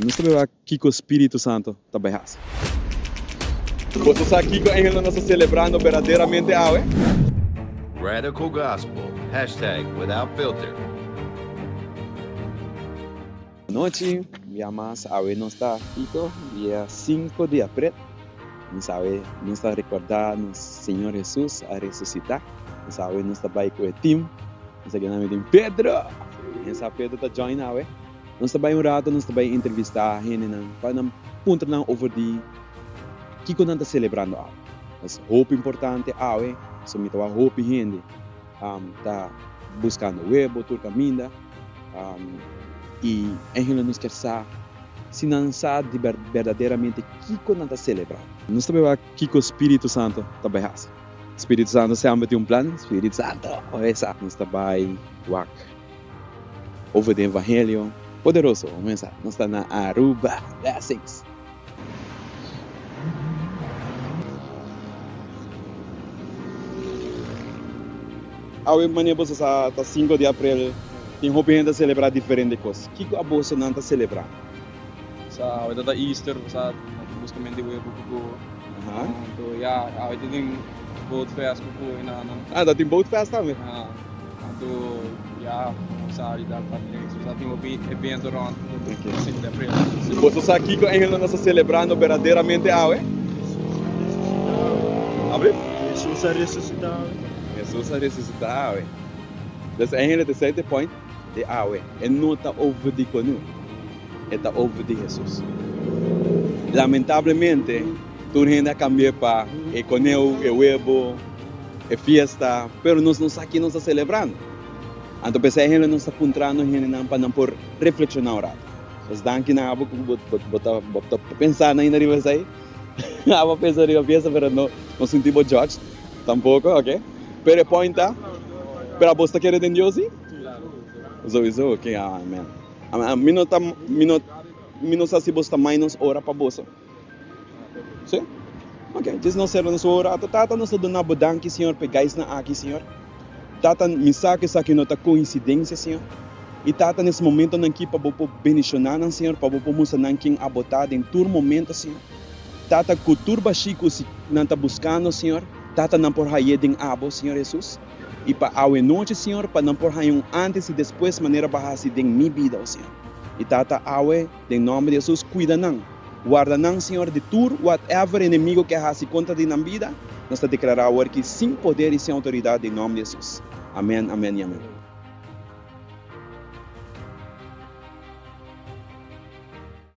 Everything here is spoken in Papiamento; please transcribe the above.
Nos ta bai wak kiko Spiritu Santo ta bai hasi. Bo ta sa kiko engelnan nos ta selebrando berdaderamente awe? Radical Gospel, Hashtag Without Filter. Anochi, bia mas awe nos ta kiko? Dia sinku di aprel. Nos awe nos ta rekorda nos Señor Hesus a resusita. Nos awe nos ta bai ku e tim. Nos ta keda na mitin Pedro! Ken sa Pedro ta join awe? Nos ta bai un rato, nos ta bai entrevistá hendenan pa nan puntra nan over di kiko nan ta selebrando awe. Es hopi importante awe, pasobra mi ta wak hopi hende ta buskando webo tur kaminda, i e hende nos kier sa si nan sa di berdaderamente kiko nan ta selebrando. Nos ta bai wak kiko Spiritu Santu ta bai hasi. Spiritu Santu semper tin un plan. Spiritu Santu, oe sa nos ta bai wak. Over di evangelio poderoso un mes a nos ta na Aruba blessings. Awe mane boso sa ta sinku di april tin hopi hende a celebra diferente cos kico a boso nan ta celebra. Sa awor ta ta Easter bo sa aki buska men di webo ku go. Aha. Anto ya awor tin tin boat fest ku go e nana. Ah ta tin boat fest tambe. Ja, anto ya bo sa di dal parti den eso sa tin hopi evento rond ku no Ok. tin sindi apresa. Y boso sa kiko engel nan ta sa celebrando berdaderamente awe? Abri? Jesus a resusita awe. Jesus a resusita awe. Des engelen ta esei te point. di awe. E no ta over di konu, e ta over di Hesus. Lamentablemente, tur hende a kambi'é pa e koneu, e webo, e fiesta, pero nos no sa ke nos ta selebrando. Anto p'esei hende nos ta puntrando hendenan pa nan por reflekshoná un ratu. Nos danki nan abo ku bo ta pensando ainda riba esei. Abo a pensa riba fiesta pero no sinti bo judged. Tampoco, ok. Pero e point ta, pero abos ta kere den Dios si? Sowiso, ok, amen. Amen. Mi no ta, mi no, mi no sa si boso ta mainos ora pa boso. Si? Ok, djes nos sera nos ora. Ato, Tata, nos ta duna Bo danki, Señor, p'e gaisnan aki, Señor. Tata, mi sa ku esaki no ta koinsidensia, Señor. I Tata, nes momentonan aki pa Bo por bendishoná nan, Señor, pa Bo por mustra nan ken Abo ta den tur momento, Señor. Tata, ku tur bashí ku si nan ta buskando, Señor, tata nan por haye den abo, Señor Hesus. I pa awenochi, Señor, pa nan por haña un antes i despues manera bo a hasi den mi bida, o Señor. I tata, awe, den nomber di Hesus, kuida nan. Warda nan, Señor, di tur whatever enemigo ke a hasi kontra di nan bida. Nos ta deklará awor aki sin poder i sin outoridat den nomber di Hesus. Amèn, amèn i amèn.